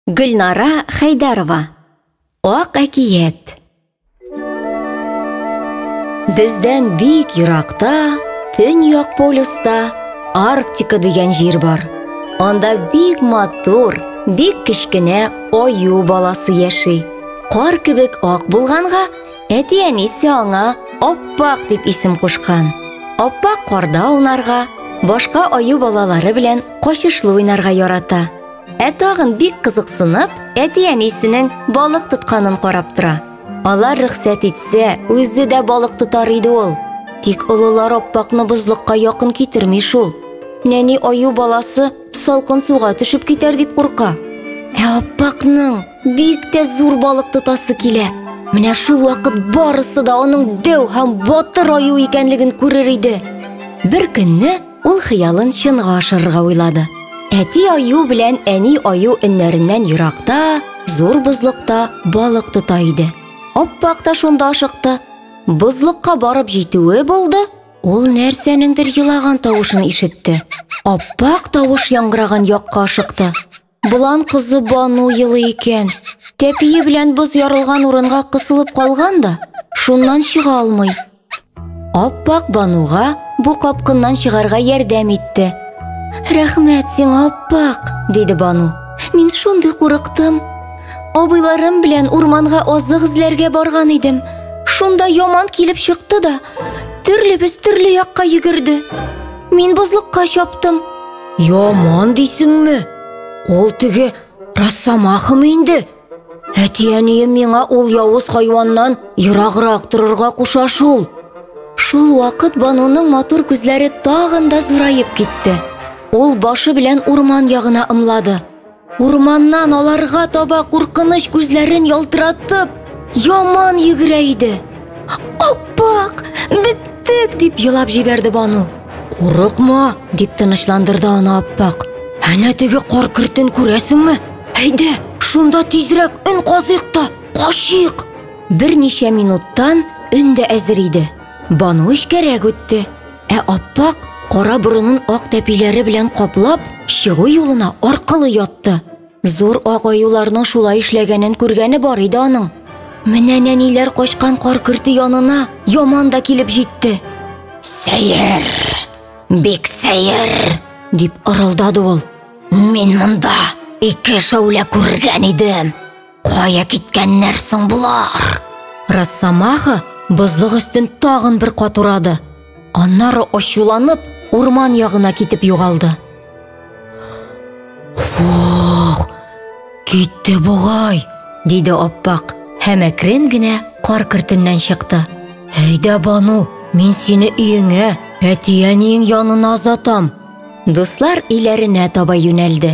Гөлнара Хәйдәрова Ак әкият Бездән бик еракта, төньяк полюста Арктика дигән җир бар. Анда бик матур, бик кечкенә аю баласы яши. Кар кебек ак булганга, әти-әнисе аңа Аппак дип исем кушкан. Аппак карда унарга, башка аю балалары белән качышлы уйнарга ярата. Ә тагын бик кызыксынып, әти-әнисенең балык тотканын карап тора. Алар рөхсәт итсә, үзе дә балык тотар иде ул. Тик олылар аппакны бозлыкка якын китерми шул. Нәни аю баласы салкын суга төшеп китәр дип курка. Ә аппакның бик тә зур балык тотасы килә. Менә шул вакыт барысы да аның дәү һәм батыр аю икәнлеген күрер иде. Бер көнне Ул хыялын чынга ашырырга уйлады. Әти аю белән әни аю өннәреннән еракта, зур бозлыкта балык тота иде. Аппак та шунда ашыкты. Бозлыкка барып җитүе булды, ул нәрсәнеңдер елаган тавышын ишетте. Аппак тавыш яңгыраган якка ашыкты. Болан кызы Бану елый икән. Тәпие белән боз ярылган урынга кысылып калган да, шуннан чыга алмый. Аппак Бануга бу капкыннан чыгарга ярдәм итте. Рәхмәт сиңа, Аппак, диде Бану. Мин шундый курыктым. Абыйларым белән урманга азык эзләргә барган идем. Шунда яман килеп чыкты да, төрлебез төрле якка йөгерде. Мин бозлыкка чаптым. Яман дисеңме? Ул теге рассама ахымы инде? Әти-әнием миңа ул явыз хайваннан ераграк торырга куша шул. Шул вакыт Бануның матур күзләре тагын да зураеп китте. Ул башы белән урман ягына ымлады. Урманнан аларга таба куркыныч күзләрен ялтыратып, яман йөгерә иде. Аппак, биттек, дип елап җибәрде Бану. Курыкма, дип тынычландырды аны Аппак. Әнә теге кар кертен күрәсеңме? Әйдә, шунда тизрәк өн казыйк та, качыйк. Берничә минуттан өн дә әзер иде. Бану эчкәрәк үтте. Ә аппак кара борынын ак тәпиләре белән каплап, чыгу юлына аркылы ятты. Зур ак аюларның шулай эшләгәнен күргәне бар иде аның. Менә нәниләр качкан кар көрте янына яман да килеп җитте. Сәер! Бик сәер! дип ырылдады ул. Мин монда ике шәүлә күргән идем. Кая киткәннәр соң булар? Росомаха бозлык өстен тагын бер кат урады. Аннары ачуланып, урман ягына китеп югалды. Фух! Китте бугай, диде Аппак һәм әкрен генә кар кертеннән чыкты. Әйдә, Бану, мин сине өеңә, әти-әниең янына озатам. Дуслар иләренә таба юнәлде.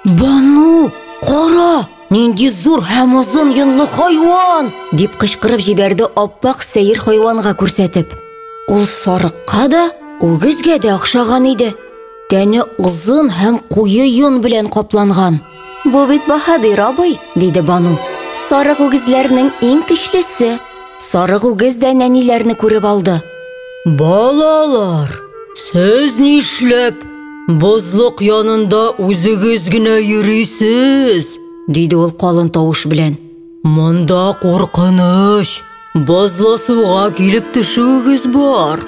Бану, кара, нинди зур һәм озын йонлы хайван! дип кычкырып җибәрде аппак сәер хайванга күрсәтеп. Ул сарыкка да, үгезгә дә охшаган иде. Тәне озын һәм куе йон белән капланган. Бу бит баһадир абый, диде Бану. Сарык үгезләрнең иң көчлесе. Сарык үгез дә нәниләрне күреп алды. Балалар, сез нишләп Бозлык янында үзегез генә йөрисез, диде ул калын тавыш белән. Монда куркыныч, бозлы суга килеп төшүегез бар.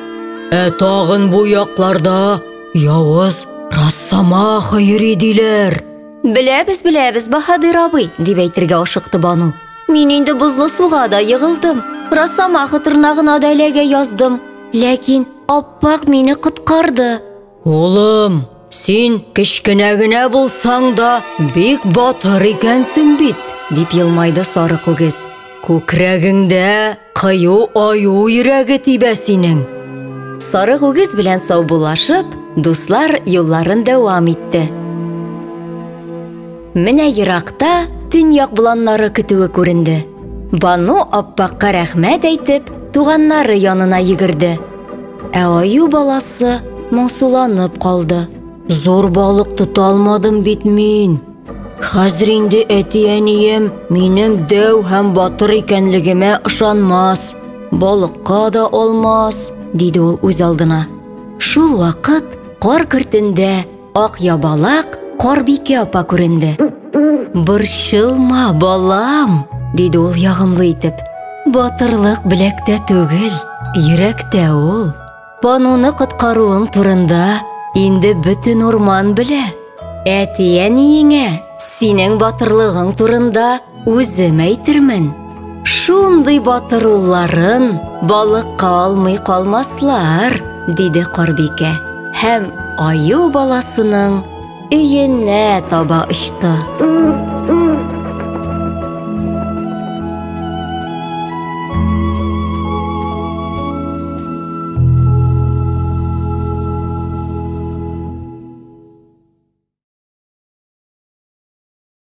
Ә тагын бу якларда явыз Росомаха йөри диләр. Беләбез, беләбез, Баһадир абый, дип әйтергә ашыкты Бану. Мин инде бозлы суга да егылдым. Росомаха тырнагына да эләгә яздым. Ләкин аппак мине коткарды. Улым, син кечкенә генә булсаң да, бик батыр икәнсең бит, дип елмайды сары күгез. Күкрәгеңдә кыю аю йөрәге тибә синең. Сары күгез белән саубуллашып, дуслар юлларын дәвам итте. Менә еракта төньяк боланнары көтүе күренде. Бану аппакка рәхмәт әйтеп, туганнары янына йөгерде. Ә аю баласы моңсуланып калды. Зур балык тота алмадым бит мин. Хәзер инде әти-әнием минем дәү һәм батыр икәнлегемә ышанмас. Балыкка да алмас, диде ул үз алдына. Шул вакыт кар кортендә Ак ябалак Карбикә апа күренде. Борчылма, балам, диде ул ягымлы итеп. Батырлык беләктә түгел, йөрәктә ул. Пануны коткаруың турында инде бөтен урман белә. Әти-әниеңә синең батырлыгың турында Үзем әйтермен, шундый батыр улларын балыкка алмый калмаслар, диде Карбикә һәм аю баласының өенә таба очты.